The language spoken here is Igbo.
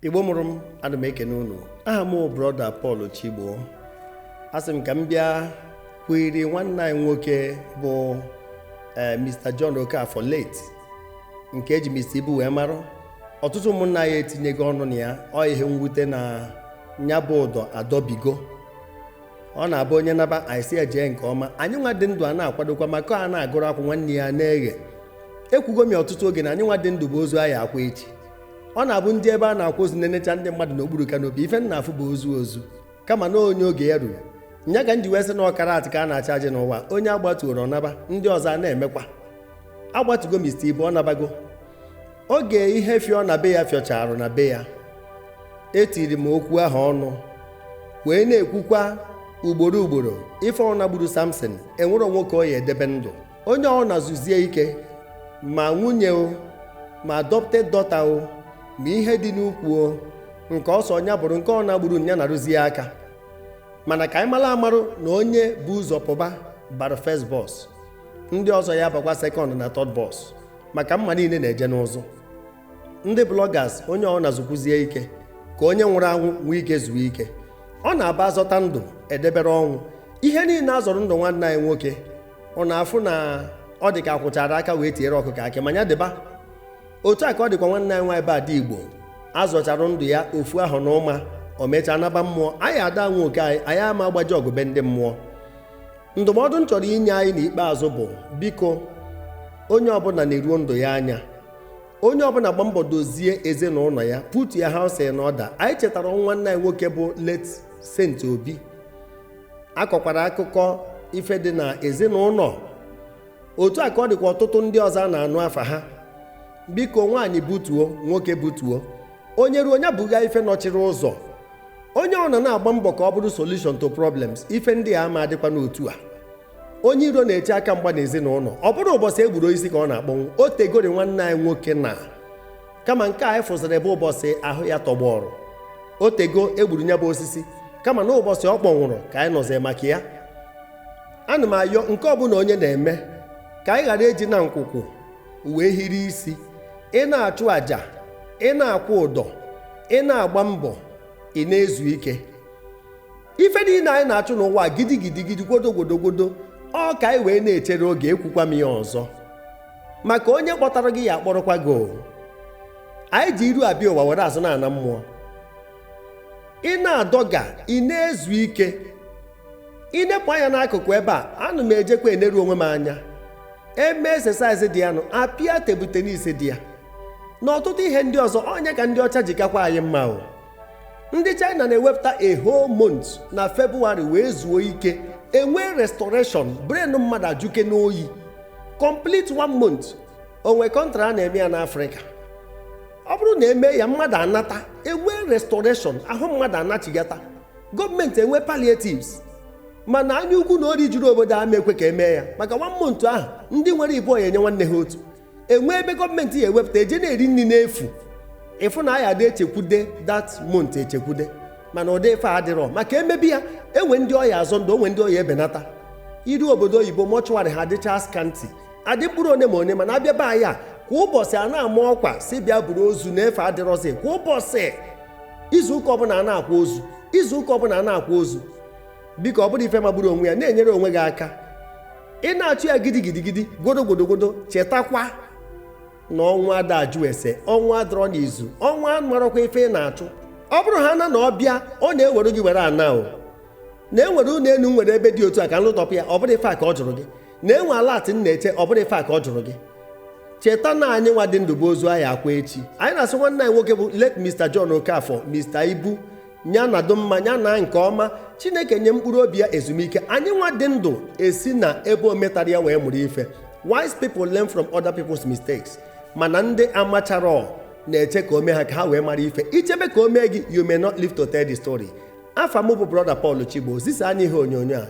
igbo mụrụ m ana m ekene unu aha m brọda Pọl Chigbo asị m ka m bịa kwuiri nwanne anyị nwoke bụ eh, Mr. John Okafor late nke eji Mr. Ibu wee mara ọtụtụ ụmụnna anyị etinyego ọnụ na ya ọ ihe mwute na nya bụ ụdọ adọbigo ọ na-abụ onye naba anyị asị ya jee nke ọma anyị nwa dị ndụ a na-akwadokwa maka a na-agụrụ akwụ nwanne ya na-eghe ekwugo m ọtụtụ oge na anyị nwa dị ndụ bụ ozu a ya-akwa echi ọ na-abụ ndị ebe a na-akwa ozu na-enecha ndị mmadụ n'okpuru kanopi ife m na-afụ bụ ozu ozu kama na ọ onye oge ya ruru nya ka m ji wee sị na ọkara atị ka a na-acha ajị n'ụwa onye a gbatuoro ọ naba ndị ọzọ a na-emekwa agbatugo mista ibu ọ nabago oge ihe fịọ na be ya fịọcharụ na be ya etiri m okwu ahụ ọnụ wee na-ekwukwa ugboro ugboro ife ọbụna gburu samson enwero nwoke ọ ya edebe ndụ onye ọbụna zuzie ike ma nwunye o ma adopted daughter o ma ihe dị n'ukwu o nke ọ sọ nya bụrụ nke ọbụna gburu nya narụzie aka mana ka anyị mara amarụ na onye bu ụzọ pụba bara first bus ndị ọzọ ya bakwa second na third bus maka mma niile na-eje n'ụzụ ndị bloggers onye ọbụna zukwuzie ike ka onye nwụrụ anwụ nwee ike zuo ike ọ na-abụ a zọta ndụ e debere ọnwụ ihe niile a zọrọ ndụ nwanne anyị nwoke ọ na-afụ na ọ dị ka a kwọchara aka wee tiere ọkụkọ akị ma ya dịba otu a ka ọ dịkwa nwanne anyị nwaanyị bụ Ada Igbo a zọchara ndụ ya ofu ahọ na ụma o mechaa naba mmụọ anyị ada nwe oke anyị anyị ama agbaji ọgụ be ndị mmụọ ndụmọdụ m chọrọ inye anyị n'ikpeazụ bụ biko onye ọbụla neruo ndụ ya anya onye ọbụla gba mbọ dozie ezinụlọ ya putu ya house in order anyị chetara ọnwụ nwanne anyị nwoke bụ late Saint Obi a kọkwara akụkọ ife dị na ezinụlọ otu a ka ọ dịkwa ọtụtụ ndị ọzọ a na-anụ afa ha biko nwaanyị butuo nwoke butuo onye ruo onye buga ife nọchiri ụzọ onye ọbụna na-agba mbọ ka ọ bụrụ solution to problems ife ndị a ama adịkwa n'otu a onye iro na-eche aka mgba n'ezinụlọ ọ bụrọ ụbọchị e gburu osisi ka ọ na-akpọnwụ o tegori nwanne anyị nwoke na kama nke anyị fụziri bụ ụbọchị ahụ ya tọgbọrọ o tego e gburu nya bụ osisi kama na ụbọchị ọ kpọnwụrụ ka anyị nụzi maka ya ana m ayọ nke ọbụla onye na-eme ka anyị ghara eji na nkwụkwụ wee hiri isi ị na-achụ àjà ị na-akwụ ụdọ ị na-agba mbọ ị na-ezu ike ife niile anyị na-achụ n'ụwa gidigidi gidi gwodo gwodo gwodo ọ ka anyị wee na-echere oge ekwukwa m ya ọzọ maka onye kpọtara gị ya akpọrọkwa gị o anyị ji iru abịa ụwa were azụ na-ana mmụọ ị na-adọga ị na-ezu ike ị nepụ anya n'akụkụ ebe a ana m ejekwa eneru onwe m anya eme exercise dị ya nụ apịa table tennis dị ya na ọtụtụ ihe ndị ọzọ ọ nya ka ndị ọcha ji kakwa anyị mma o ndị china na-ewepụta a whole month na febụwarị wee zuo ike enwee restoration brain mmadụ ajụke n'oyi complete one month o nwe country a na-eme ya n'afrịka ọ bụrụ na e mee ya mmadụ anata enwee restoration ahụ mmadụ anachigata gọọmenti enwe palliatives mana anya ukwu na ori juru obodo ama ekwe ka e mee ya maka one month ahụ ndị nwere ịbụọ ya enye nwanne ha otu enwee ebe gọọmenti ya ewepụta eje na-eri nni n'efu ị fụ na a ya dị echekwude that month echekwude mana ụdị ife a dịrọ maka emebi ya enwe ndị ọ ya azọ ndụ o nwe ndị ọ ya ebenata iru obodo oyibo mortuary ha adịcha scanty adị mkpụrụ one ma one mana a bịa be anyị kwa ụbọsị a na-ama ọkwa sị bịa buru ozu na efe adịrọzi kwa ụbọsị izu ụka ọbụna a na-akwa ozu izu ụka ọbụna a na-akwa ozu biko ọ bụrụ ife magburu onwe ya na-enyere onwe gị aka ị na-achụ ya gidigidigidi gwodogodogodo chetakwa na ọnwụ ada ajụ ese ọnwụ adịrọ n'izu ọnwụ amarọkwa ife ị na-achụ ọ bụrụ ha na na ọ bịa ọ na-ewere gị were ana o na enwere ụnọ enu nwere ebe dị otu a ka m lụtọpụ ya ọ bụrọ ife a ka ọ jụrụ gị na enwe alert m na-eche ọ bụrọ ife a ka ọ jụrụ gị cheta na anyị nwa dị ndụ bụ ozu a ya akwa echi anyị na-asị nwanne anyị nwoke bụ late Mr. John Okafor Mr. Ibu nya nọdụ mma nya naa nke ọma chineke nye mkpụrụ obi ya ezumike anyị nwa dị ndụ esi na ebe o metara ya wee mụrụ ife wise people learn from other people's mistakes mana ndị amacharọ na-eche ka o mee ha ka ha wee mara ife i chebe ka o mee gị you may not live to tell the story afa m bụ brother Paul Chigbo zisa anyị ihe onyonyo a